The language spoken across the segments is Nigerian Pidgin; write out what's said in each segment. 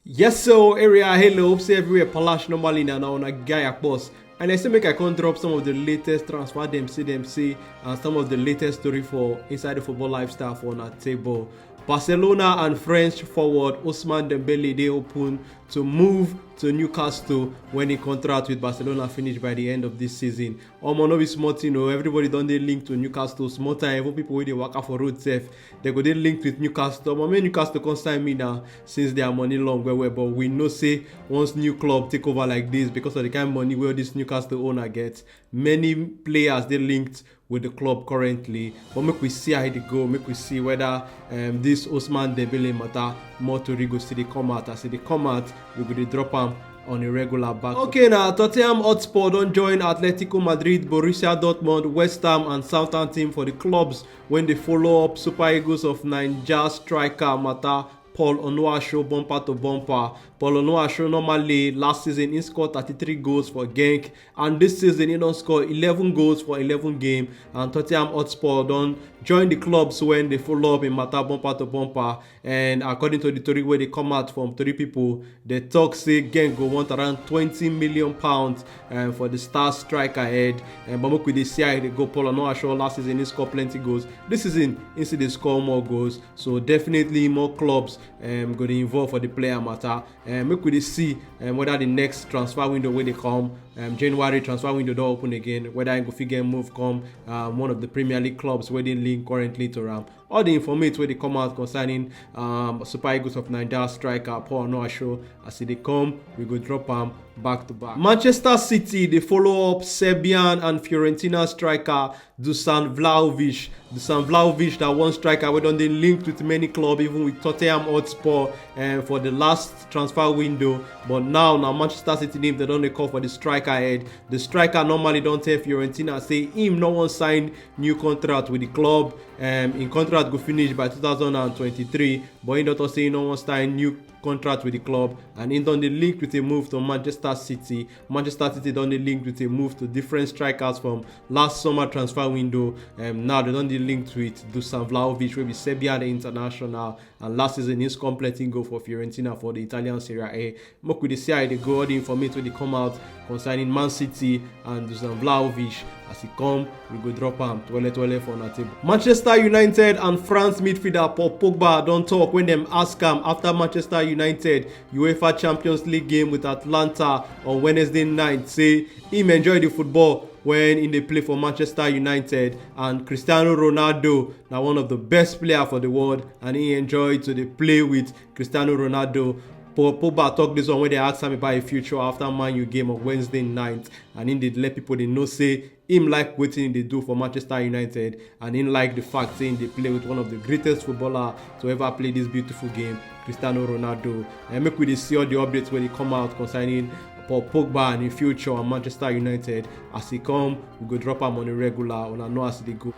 Yes, so area, hello, hope say everywhere palash normally na on a guy a boss. And I say make I come drop some of the latest transfer them see them see and some of the latest story for inside the football lifestyle for on a table. Barcelona and French forward Ousmane Dembele they open to move to Newcastle when he contract with Barcelona finish by the end of this season. Omo no be small thing o, everybody don dey linked to Newcastle small time, even people wey dey waka for road sef They go dey linked with newcastle omo make newcastle come sign me now since their money long well well but we know say once new club take over like this because of the kind money wey this newcastle owner get many players dey linked with the club currently but make we see how e dey go make we see whether um, this osman dembele matter more tori go still dey come out as e dey come out we go dey drop am on a regular basis. Okay, now Tottenham Hotspur don't join Atletico Madrid, Borussia Dortmund, West Ham, and Southampton for the clubs When they follow up Super Eagles of Niger striker matter Paul Onuasho bumper to bumper. Paul Onuasho normally last season he scored 33 goals for Genk and this season he don score 11 goals for 11 game and Tottenham Hotspur don join the clubs when they follow up in matter bumper to bumper. and according to di tori wey dey come out from tori pipo dem tok say genk go want around twenty million pounds eh, for di star striker head eh, but make we dey see how e dey go paul onuachu last season he score plenty goals dis season he still dey score more goals so definitely more clubs um, go dey involve for di player matter eh, make we dey see um, whether di next transfer window wey dey come um, january transfer window don open again whether he go fit get move come um, one of di premier league clubs wey dey linked currently to am all the informate wey dey come out concerning um, Super Eagles of Nigeria striker Paul Onuachu as he dey come, we go drop am back to back. Manchester City dey follow up Serbian and Fiorentina striker Dusan Vlahovic. Dusan Vlahovic na one striker wey don dey linked with many clubs, even with Tottenham Hotspur uh, for the last transfer window. But now na Manchester City name dem don dey call for the striker head. The striker normally don tell Fiorentina say him no wan sign new contract with the club. um im contract go finish by 2023 but im don tok say im no wan sign new contract wit di club and im don dey linked wit a move to manchester city manchester city don dey linked wit a move to different strikers from last summer transfer window um now dem don dey linked wit dusan vlahovic wey be serbian international and last season he scored plenty goal for Fiorentina for the Italian Serie A. Make we dey see how e dey go all the information wey dey come out concerning Man City and Dusan Vlahovic as e come we go drop am twele twele for una table. Manchester United and France midfielder Paul Pogba don talk when dem ask am after Manchester United UEFA Champions League game with Atlanta on Wednesday night say im enjoy the football when im dey play for Manchester United and cristiano ronaldo na one of the best player for the world and he enjoy to dey play with cristiano ronaldo paul pogba talk this one wey dey ask am about im future after man u game on wednesday night and im dey let pipo dey know say im like wetin im dey do for manchester united and im like di fact say im dey play with one of di greatest footballer to ever play dis beautiful game cristiano ronaldo and make we dey see all di updates wey dey come out concerning paul pogba and im future and manchester united as e come we go drop am on a regular una know as e dey go.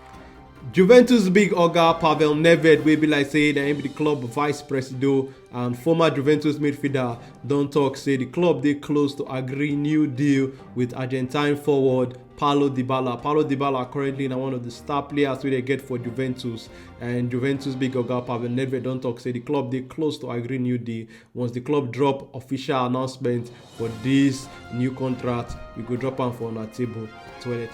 Juventus big oga Pavel Nedved wey be like say na him be the club vice presido and former Juventus midfielder don talk say the club dey close to agree new deal with Argentine forward Paulo Dybala. Paulo Dybala currently na one of the star players wey dey get for Juventus and Juventus big oga Pavel Nedved don talk say the club dey close to agree new deal once the club drop official announcement But this new contract, we go drop am for una table.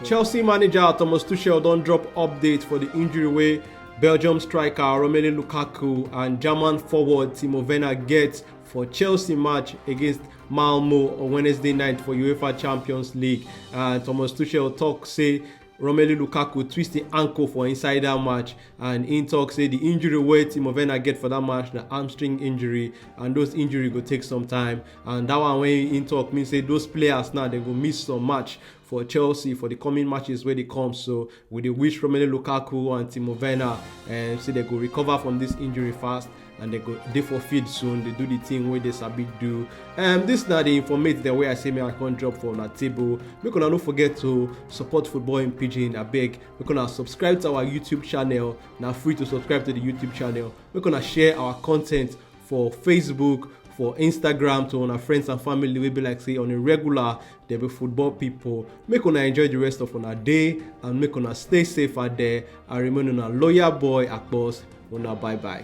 Chelsea manager Thomas Tuchel don drop update for the injury wey Belgium striker Romelu Lukaku and German forward Timo Werner get for Chelsea match against Malmo on Wednesday night for UEFA Champions League. And Thomas Tuchel talk say romelu lukaku twist im ankle for inside dat match and im tok say di injury wey timo werner get for dat match na hamstring injury and those injury go take some time and dat one wey im tok mean say those players now dem go miss some match for chelsea for di coming matches wey dey come so we dey wish romelu lukaku and timo werner say dem go recover from dis injury fast and they go dey for field soon dey do the thing wey dey sabi do um, this na the informate dem wey i say make i come drop for una table make una no forget to support football in pidgin abeg make una subscribe to our youtube channel na free to subscribe to the youtube channel make una share our content for facebook for instagram to una friends and family wey be like say on a regular dey be football pipo make una enjoy di rest of una day and make una stay safe out there and remain una loyal boy akpos una bye bye.